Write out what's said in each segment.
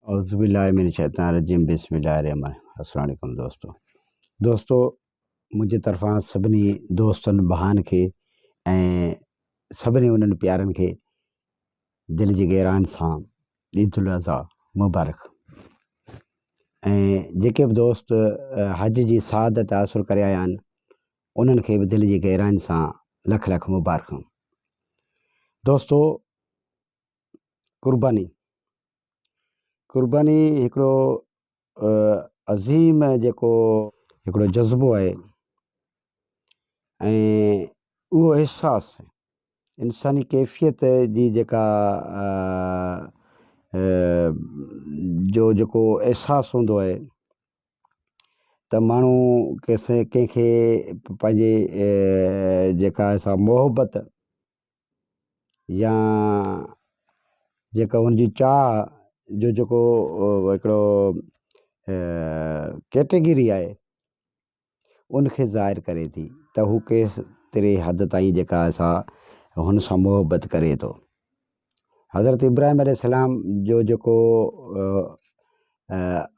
اعوذباللّٰه من الشّيطان الرّجيم بسم الله الرّحمٰن الرّحيم السّلام عليڪم دوستو دوستو منهنجي طرفان سڀني دوستن ڀائن کي ۽ سڀني انهن پيارن کي دل جي گهرائن سان عيد الاضحيٰ مبارڪ ۽ جيڪي به دوست حج جي سعادت حاصل ڪري آيا آهن انهن کي به دل جي گهرائن سان لک لک مبارڪون دوستو قرباني قرباني هڪڙو عظيم جيڪو هڪڙو جذبو آهي ۽ اهو احساس انساني ڪيفيت جي جيڪا جو جيڪو احساس هوندو آهي ته ماڻهو ڪنهن کي پنهنجي جيڪا سا محبت يا جيڪا هن جي چاهه جو جيڪو هڪڙو ڪيٽيگري آهي ان کي ظاهر ڪري ٿي ته هو ڪيس تري حد تائين جيڪا سا هن سان محبت ڪري ٿو حضرت ابراهيم عليه السلام جو جيڪو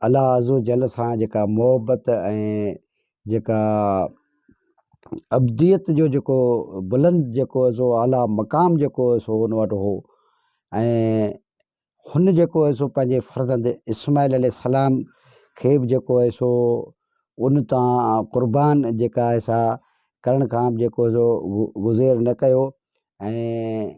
الله عزّوجلّ سان جيڪا محبّت ۽ جيڪا ابديت جو جيڪو بلند جيڪو سو اعليٰ مقام جيڪو هو سو ان وٽ هو ۽ هن جيڪو هو سو پنهنجي فرزند اسماعيل عليه السلام کي بھ جيڪو هو سو ان تان قربان جيڪا آهي سا ڪرڻ کان بھ جيڪو سو گذير نه ڪيو ۽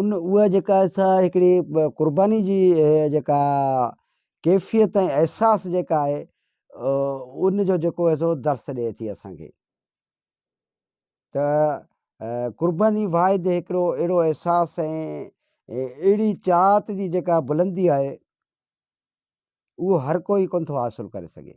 ان اها جيڪا سا هڪڙي قرباني جي جيڪا ڪيفيت ۽ احساس جيڪا آهي ان جو جيڪو آهي سو درس ڏئي ٿي اسانکي ته قرباني واحد هڪڙو اهڙو احساس ۽ اهڙي چاهت جي جيڪا بلندي آهي اهو هر ڪوئي ڪونه ٿو حاصل ڪري سگهي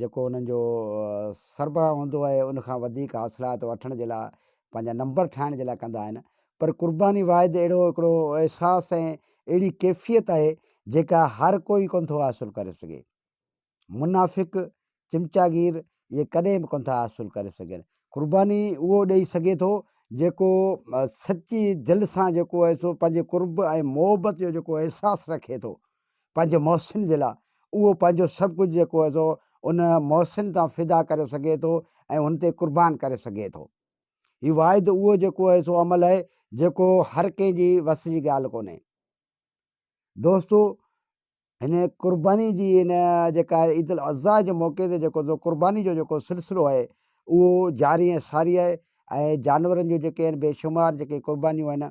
جيڪو انهن جو سربراهه هوندو آهي ان کان وڌيڪ حاصلات وٺڻ جي لاء پنهنجا نمبر ٺاهڻ جي لاء ڪندا آهن پر قرباني واحد اهڙو هڪڙو احساس ۽ اهڙي ڪيفيت آهي جيڪا هر ڪوئي ڪونه ٿو حاصل ڪري سگهي منافق چمچاگير اهي ڪڏهن به ڪونه ٿا حاصل ڪري سگهن قرباني اهو ڏئي سگهي ٿو جيڪو سچي دل سان جيڪو آهي سو پنهنجي قرب ۽ محبت جو جيڪو احساس رکي ٿو پنهنجي محسن جي لاء اهو پنهنجو سڀ ڪجهه جيڪو آهي سو ان محسن تان فدا ڪري سگهي ٿو ۽ هن تي قربان ڪري سگهي ٿو. هي واحد اهو جيڪو آهي سو عمل آهي جيڪو هر ڪنهن جي وس جي ڳالهه ڪونهي. دوستو هن قرباني جي هن جيڪا عيد الاضحيٰ جي موقعي تي جيڪو سو قرباني جو جيڪو سلسلو آهي اهو جاري ۽ ساري آهي ۽ جانورن جو جيڪي آهن بيشمار جيڪي قربانيون آهن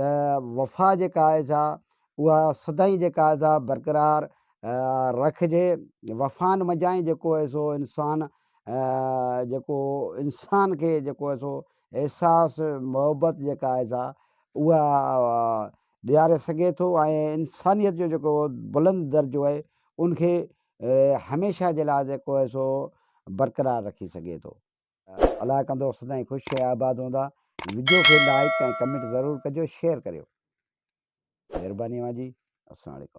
ته وفا جيڪا آهي سا اها سدائين جيڪا آهي سا برقرار رکجي. وفائن منجهان ئي جيڪو آهي سو انسان جيڪو انسان کي جيڪو آهي سو احساس محبت جيڪا آهي سا اها ڏياري سگهي ٿو ۽ انسانيت جو جيڪو بلند درجو آهي ان کي هميشه جي لاء جيڪو آهي سو برقرار رکي سگهي ٿو. الاء ڪندڙ سدائين خوش ۽ آباد هوندا. وڊيو کي لائيڪ ۽ ڪمينٽ ضرور ڪجو شيئر ڪريو مھرباني اوھان جي اسلام عليڪم.